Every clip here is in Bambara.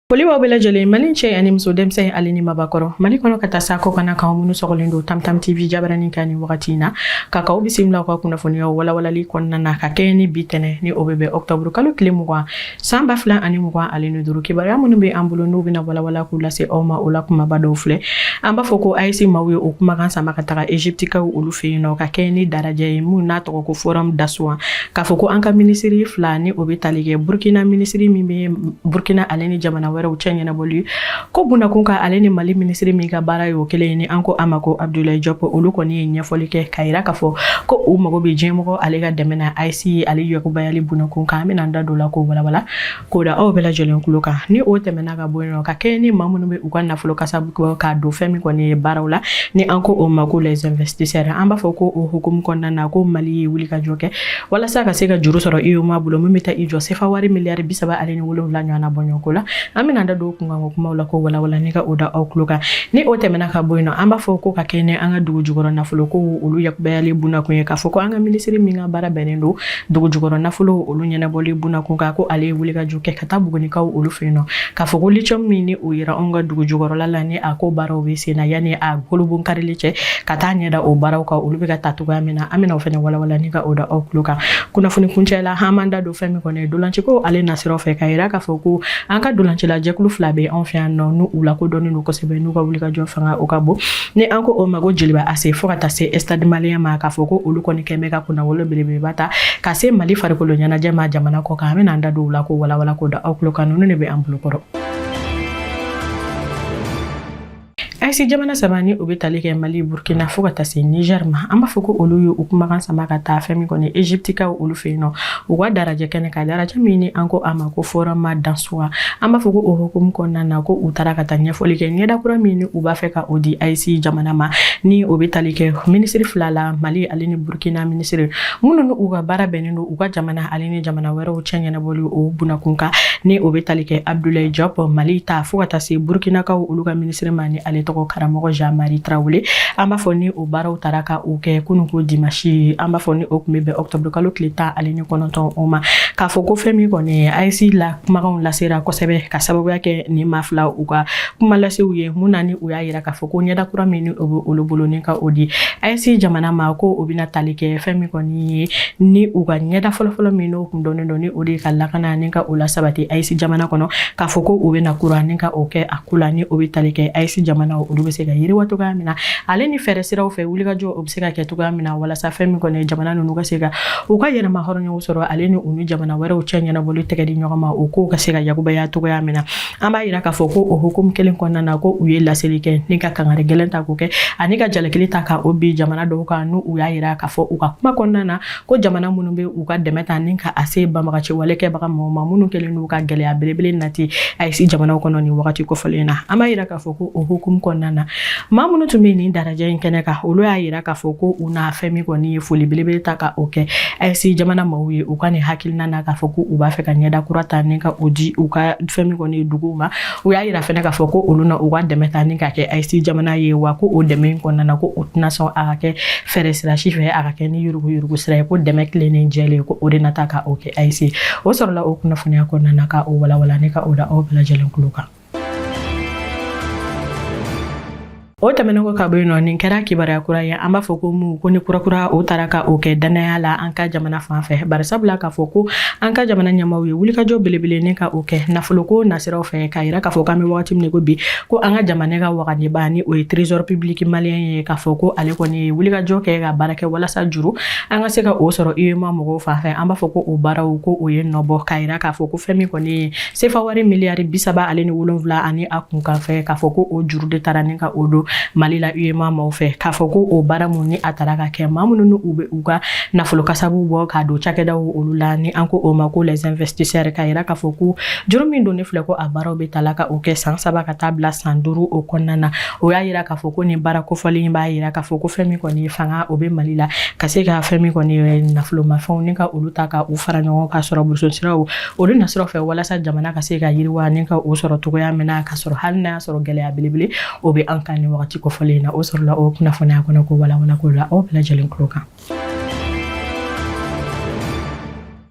Foli b'aw bɛɛ lajɛlen mali cɛ ani muso denmisɛn ale ni mabakɔrɔ mali kɔnɔ ka taa s'a kɔ kan na k'aw minnu sɔgɔlen don tamtam tv jabaranin kan nin wagati in na ka k'aw bisimila ka kunnafoniyaw walawalali kɔnɔna na ka kɛɲɛ ni bi tɛnɛn ni o bɛ bɛn ɔkutɔburukalo tile mugan San ba fila ani mugan ale ni duuru kibaruya minnu bɛ an bolo n'u bɛna walawala k'u lase aw ma o la kumaba dɔw filɛ an b'a fɔ ko ayise maaw ye o kumakan sama ka taga egyptikaw olu fɛ yen nɔ ka kɛɲɛ ni darajɛ ye min n'a tɔgɔ ko forum d'Assouan k'a fɔ ko an ka minisiri fila ni o bɛ tali kɛ burukina minisiri min bɛ burukina ale ni jamana wɛrɛw cɛ ɲɛnabɔli ye ko bunakun kan ale ni mali minisiri min ka baara y'o kelen ye ni an ko a ma ko abdulayi jɔp olu kɔni ye ɲɛfɔli kɛ k'a yira k'a fɔ ko u mago bɛ diɲɛmɔgɔ ale ka dɛmɛ na ayise ale yakubayali bunakun kan an bɛna an da don a la k'o walawala k'o da aw bɛɛ lajɛlen tulo kan ni o tɛmɛna ka bɔ yen nɔ ka kɛɲɛ ni maa minnu bɛ u ka nafolo kasabi k'a don fɛn min kɔni ye baaraw la ni an ko o ma ko les investisseurs an b'a fɔ ko o hukumu kɔnɔna na ko mali ye wulikajɔ kɛ walasa ka se ka juru sɔrɔ uemoa bolo min bɛ taa i jɔ sefa wari miliyari bi saba ale wolonwula ɲɔgɔnna bɔɲɔgɔnko la an bɛn'an da don kunkanko kumaw la k'o walawala ni ka o da aw tulo kan ni o tɛmɛna ka bɔ yen nɔ an b'a fɔ ko ka kɛɲɛ ni an ka dugu jukɔrɔ nafolo ko olu yakubayali bunakun ye k'a fɔ ko an ka minisiri min ka baara bɛnnen don dugu jukɔrɔ nafolo olu ɲɛnabɔli bunakun kan ko ale ye wulikajɔ kɛ ka taa bugunikaw olu fɛ yen nɔ k'a fɔ ko litiyɔmu min ni o yera anw ka dugu jukɔrɔla la ni a ko baaraw bɛ sen na yanni a kurunbonkarili cɛ ka taa ɲɛda o baaraw kan olu bɛ ka taa cogoya min na an bɛna o fana walawala ni ka o da aw tulo kan kunnafoni kuncɛ la an b'an da don fɛn min kɔni ye dolanciko ale nasiraw fɛ k'a yira k'a fɔ ko an ka dolancila jɛkulu fila bɛ anw fɛ yan nɔ n'u lakodɔnnen don kosɛbɛ n'u ka wulikajɔ fanga o ka bon ni an ko o ma ko jeliba ase fo ka taa se stade malien ma k'a fɔ ko olu kɔni kɛmɛ ka kunnawolo belebeleba ta ka se mali farikolo ɲɛnajɛ ma jamana kɔ kan an bɛn'an da don u la k'o walawala k'o da aw tulo kan ninnu de bɛ an bolokɔrɔ ayise jamana saba ni o bɛ tali kɛ mali burkina fo ka taa se niger ma an b'a fɔ ko olu ye u kumakan sama ka taa fɛn min kɔni egyptikaw olu fɛ yen nɔ u ka darajɛ kɛnɛ kan darajɛ min ni an ko a ma ko forum d'Assouan an b'a fɔ ko o hukumu kɔnɔna na ko u taara ka taa ɲɛfɔli kɛ ɲɛda kura min ni u b'a fɛ ka o di ayise jamana ma ni o bɛ tali kɛ minisiri fila la mali ale ni burkina minisiri minnu ni u ka baara bɛnnen don u ka jamana ale ni jamana wɛrɛw cɛ ɲɛnabɔli o bunakun kan ni o bɛ tali kɛ abudulayi jɔp mali ta fo ka taa se burukinakaw olu ka minisiri ma ni ale tɔgɔ karamɔgɔ jean marie tarawele an b'a fɔ ni o baara u taara ka o kɛ kunun ko dimasi an b'a fɔ ni o tun bɛ bɛn ɔkutɔburu kalo tile tan ale ni kɔnɔntɔn o ma k'a fɔ ko fɛn min kɔni ayise la kumakanw lasera kosɛbɛ ka sababuya kɛ nin maa fila u ka kuma lasew ye mun na ni u y'a yira k'a fɔ ko ɲɛda kura min o bɛ olu bolo ni ka o di AES jamana ma ko o bɛna tali kɛ fɛn min kɔni ye ni u ka ɲɛda fɔlɔfɔlɔ min n'o kun dɔnnen don ni o de ye ka lakana ni ka o lasabati AES jamana kɔnɔ k'a fɔ ko o bɛna kura ni ka o kɛ a ko la ni o bɛ tali kɛ AES jamana olu bɛ se ka yiriwa cogoya min na ale ni fɛɛrɛ siraw fɛ wulikajɔ o bɛ se ka kɛ cogoya min na walasa fɛn min kɔni ye jamana ninnu ka se ka u ka yɛrɛmahɔrɔnyaw sɔrɔ ale ni u ni jamana wɛrɛw cɛ ɲɛnabɔli tɛgɛ di ɲɔgɔn ma o kow ka se ka yakubaya cogoya min na an b'a yira k'a fɔ ko o hukumu kelen kɔnɔna na ko u ye laseli kɛ ni ka kangari gɛlɛn ta k'o kɛ ani ka jalakili ta ka o bin jamana dɔw kan n'u u y'a yira k'a fɔ u ka kuma kɔnɔna na ko jamana minnu bɛ u ka dɛmɛ ta ni ka a se banbaganciwale kɛbaga mɔgɔw ma minnu kɛlen n'u ka gɛlɛya belebele nati AES jamanaw kɔnɔ nin wagati kofɔlen na an b'a yira k'a fɔ ko o hukumu kɔnɔna na maa minnu tun bɛ nin dalajɛ in kɛnɛ kan olu y'a yira k'a fɔ ko u na fɛn min kɔni ye foli belebele ta ka o kɛ AES jamana maaw ye u ka nin hakilina na k'a fɔ ko u b'a fɛ ka ɲɛda kura ta ni ka o di u ka fɛn min kɔni ye duguw ma u y'a yira fɛnɛ k'a fɔ ko olu na u ka dɛmɛ ta ni ka kɛ AES jamana ye wa ko o dɛmɛ in kɔnɔna na ko o tɛna sɔn a ka kɛ fɛɛrɛ sira si fɛ a ka kɛ ni yuruguyurugu sira ye ko dɛmɛ tilennen jɛlen ko o de na ta ka o kɛ AES o sɔrɔla o kunnafoniya kɔnɔna na ka o walanwalan ni ka o da aw bɛɛ lajɛlen tulo kan o tɛmɛnen kɔ ka bɔ yen nɔ nin kɛra kibaruya kura ye an b'a fɔ ko mu ko ni kurakura o tara ka o kɛ dannaya la an ka jamana fan fɛ bari sabu la k'a fɔ ko an ka jamana ɲɛmaaw ye wulikajɔ belebele ni ka o kɛ nafoloko nasiraw fɛ k'a yira k'a fɔ k'an bɛ wagati min ko bi ko an ka jamana ka waganiba ni o ye trésor public malien ye k'a fɔ ko ale kɔni ye wulikajɔ kɛ ka baara kɛ walasa juru an ka se ka o sɔrɔ UEMOA mɔgɔw fan fɛ an b'a fɔ ko o baaraw ko o ye nɔbɔ k'a yira k'a fɔ ko fɛn min kɔni ye sefa wari miliyari bi saba ale ni wolonwula ani a kunkanfɛn k'a fɔ ko o juru de tara ni ka o don mali la UEMOA maw fɛ k'a fɔ ko o baara min ni a tara ka kɛ maa minnu ni u bɛ u ka nafolo kasabu bɔ k'a don cakɛdaw olu la ni an ko o ma ko les investisseurs k'a yira k'a fɔ ko juru min don nin filɛ ko a baaraw bɛ tala ka o kɛ san saba ka taa bila san duuru o kɔnɔna na o y'a yira k'a fɔ ko nin baara kofɔlen b'a yira k'a fɔ ko fɛn min kɔni fanga o bɛ mali la ka se ka fɛn min kɔni nafolomafɛnw ni ka olu ta ka u fara ɲɔgɔn kan sɔrɔ bosonsiraw Olu nasira fɛ walasa jamana ka se ka yiriwa ni ka o sɔrɔ cogoya min na k'a sɔrɔ hali n'a y'a sɔrɔ gɛlɛya belebele o bɛ an kan nin waati kofɔlen in na o sɔrɔla o kunnafoniya kɔnɔ k'o walanwalan k'o da aw bɛɛ lajɛlen tulo kan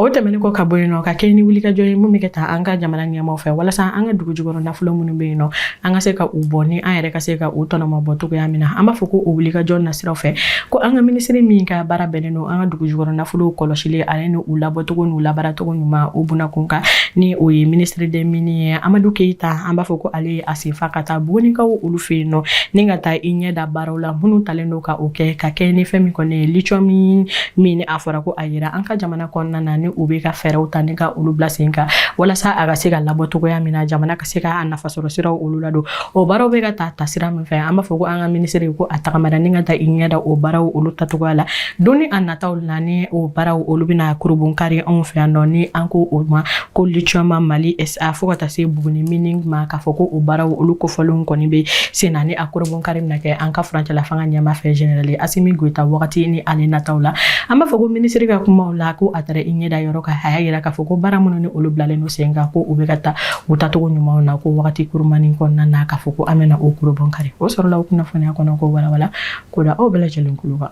o tɛmɛnen kɔ ka bɔ yen nɔ ka kɛ ni wulikajɔ ye min bɛ ka ta an ka jamana ɲɛmaaw fɛ walasa an ka dugu jukɔrɔ nafolo minnu bɛ yen nɔ an ka se ka u bɔ ni an yɛrɛ ka se ka u tɔnɔmabɔ cogoya min na an b'a fɔ ko o wulikajɔ nasiraw fɛ ko an ka minisiri min ka baara bɛnnen don An ka dugu jukɔrɔ nafolo kɔlɔsili ale ni u labɔcogo n'u labaaracogo ɲuman o bunakun kan ni o ye ministre des mines ye Amadu Keyita an b'a fɔ ko ale ye a sen fa ka taa Bugunikaw olu fɛ yen nɔ ni ka taa i ɲɛ da baaraw la minnu talen don ka o kɛ ka kɛ ni fɛn min kɔni ye lithium min ni a fɔra ko a yera an ka jamana kɔnɔna na ni u bɛ ka fɛɛrɛw ta ni ka olu bila sen kan walasa a ka se ka labɔ cogoya min na jamana kan se ka a nafasɔrɔ siraw olu ladon o baaraw bɛ ka ta ta sira min fɛ an b'a fɔ ko an ka minisiri ko a tagamara ni ka taa i ɲɛ da o baaraw olu taacogoya la don ni a nataw la ni o baaraw olu bɛna kurubun kari anw fɛ yan nɔ ni an ko o ma ko litiyɔmu mali sa fo ka taa se buguni mining ma k'a fɔ ko o baaraw olu kofɔlenw kɔni bɛ sen na ni a kurubun kari bɛna kɛ an ka furancɛla fanga ɲɛmaa fɛ generali asimi goyita wagati ni ale nataw la an b'a fɔ ko minisiri ka kumaw la ko a taara i ɲɛ da yɔrɔ kan a y'a yira k'a fɔ ko baara minnu ni olu bilalen don sen kan ko u bɛ ka taa u taacogo ɲumanw na ko wagati kurumani kɔnɔna na k'a fɔ ko an bɛna o kurubɔn kari o sɔrɔla o kunnafoniya kɔnɔko walawala k'o da aw bɛɛ lajɛlen kulo kan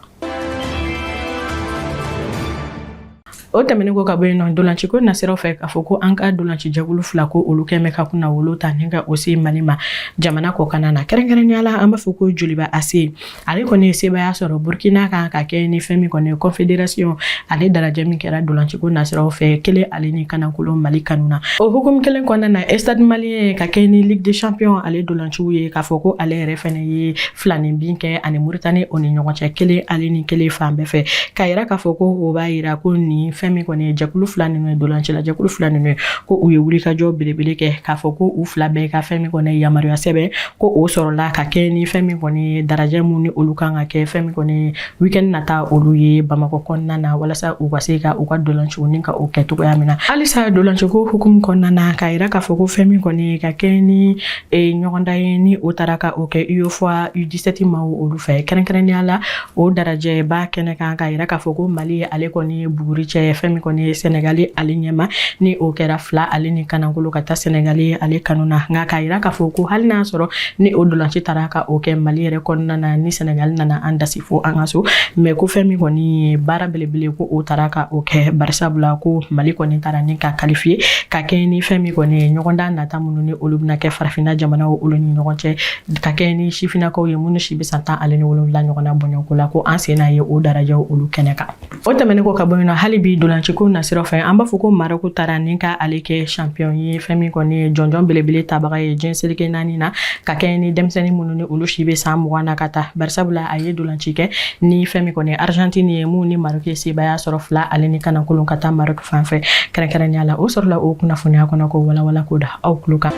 o tɛmɛnen kɔ ka bɔ yen nɔ ntolanciko nasiraw fɛ k'a fɔ ko an ka ntolanci jɛkulu fila ko olu kɛn bɛ ka kunnawolo ta ni ka o se mali ma jamana kɔkanna na kɛrɛnkɛrɛnnenya la an b'a fɔ ko joliba ase ale kɔni ye sebaaya sɔrɔ burukina kan ka kɛ ni fɛn min kɔni ye kɔnfederasiyɔn ale darajɛ min kɛra dolanciko nasiraw fɛ kelen ale ni kanakolo mali kanu na o hukumu kelen kɔnɔna na estade maliyɛn ka kɛ ni ligue des champions ale dolanciw ye k'a fɔ ko ale yɛrɛ fɛnɛ ye filanin bin kɛ ani muritani o ni ɲɔgɔn cɛ kelen ale ni kelen fan bɛɛ fɛ k'a yira k'a fɔ ko o b'a yira ko ni fɛn min kɔni ye jɛkulu fila ninnu ye dolancila jɛkulu fila ninnu ye ko u ye wulikajɔ belebele kɛ k'a fɔ ko u fila bɛɛ ka fɛn min kɔni ye yamaruya sɛbɛn ko o sɔrɔla ka kɛ ni fɛn min kɔni ye darajɛ mun ni olu kan ka kɛ fɛn min kɔni ye weekend nata olu ye bamakɔ kɔnɔna na walasa u ka se ka u ka dolanciko ni ka o kɛ cogoya min na halisa dolanciko hukumu kɔnɔna na k'a yira k'a fɔ ko fɛn min kɔni ye ka kɛ ni e, ɲɔgɔndan ye ni o taara ka o kɛ ufoa u17 ma olu fɛ kɛrɛnkɛrɛnnenya la O darajɛba kɛnɛ kan k'a yira k'a fɔ ko mali ye ale kɔni ye buguri cɛ fɛn min kɔni ye sɛnɛgali ale ɲɛma ni o kɛra fila ale ni kanakolo ka taa sɛnɛgali ye ale kanu na nka k'a yira k'a fɔ ko hali n'a sɔrɔ ni o dolanci taara ka o kɛ mali yɛrɛ kɔnɔna na ni sɛnɛgali nana an dasi fo an ka so mɛ ko fɛn min kɔni ye baara belebele ko o taara ka o kɛ barisabula ko mali kɔni taara ni ka kalifiye ka kɛ ni fɛn min kɔni ye ɲɔgɔndan nata minnu ni olu bɛna kɛ farafinna jamana olu ni ɲɔgɔn cɛ Ka kɛ ni sifinnakaw ye minnu si bɛ san tan ani wolonwula ɲɔgɔnna bɔɲɔgɔnko la ko an senna ye o darajɛw olu kɛnɛ kan o tɛmɛnen kɔ ka bɔ yen nɔ hali bi dolanciko nasira fɛ an b'a fɔ ko marɔku taara ni ka ale kɛ sanpiyɔn ye fɛn min kɔni ye jɔnjɔn belebele tabaga ye diɲɛ seleke naani na ka kɛ ni denmisɛnnin minnu ni olu si bɛ san mugan na ka taa barisabula a ye dolanci kɛ ni fɛn min kɔni ye arizantini ye mun ni marɔku ye sebaaya sɔrɔ fila ale ni kankolon ka taa marɔku fan fɛ kɛrɛnkɛrɛnnenya la o sɔrɔla o kunnafoniya kɔnɔko walawala k'o da aw tulo kan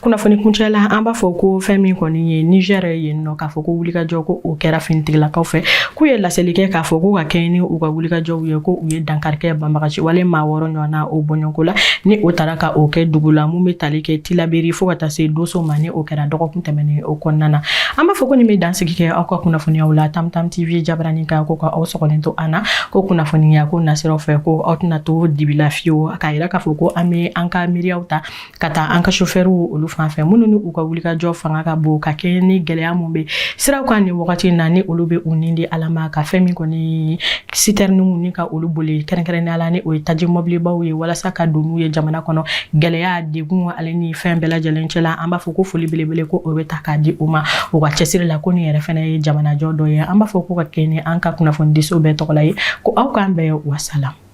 kunnafoni kuncɛ la an b'a fɔ ko fɛn min kɔni ye nizɛri yen nɔ k'a fɔ ko wulikajɔ ko o kɛra finitigilakaw fɛ k'u ye laseli kɛ k'a fɔ ko ka kɛɲɛ ni u ka wulikajɔw ye ko u ye dankari kɛ banbagaci wale maa wɔɔrɔ ɲɔgɔn na o bɔɲɔgɔnko la ni o taara ka o kɛ dugu la mun bɛ tali kɛ tilaberi fo ka taa se doso ma ni o kɛra dɔgɔkun tɛmɛnen o kɔnɔna na an b'a fɔ ko nin bɛ dansigi kɛ aw ka kunnafoniyaw la tamtam tv jabaranin kan ko ka aw sɔgɔlen to an na ko kunnafoniya ko nasiraw fɛ ko aw tɛna to dibi la fiyewu k'a K'a fɔ ko an bɛ an ka miiriyaw ta ka taa an ka sofɛriw olu fan fɛ minnu ni u ka wulikajɔ fanga ka bon ka kɛ ni gɛlɛya minnu bɛ siraw kan nin wagati na ni olu bɛ u ni di ala ma ka fɛn min kɔni sitɛriniw ni ka olu boli kɛrɛnkɛrɛnnenya la ni o ye taji mɔbilibaw ye walasa ka don n'u ye jamana kɔnɔ gɛlɛya degun ale ni fɛn bɛɛ lajɛlen cɛla an b'a fɔ ko foli belebele ko o bɛ ta k'a di u ma u ka cɛsiri la ko nin yɛrɛ fana ye jamanajɔ dɔ ye an b'a fɔ ko ka kɛ ni an ka kunnafonidiso bɛɛ tɔgɔ la ye ko aw k'an bɛɛ wasala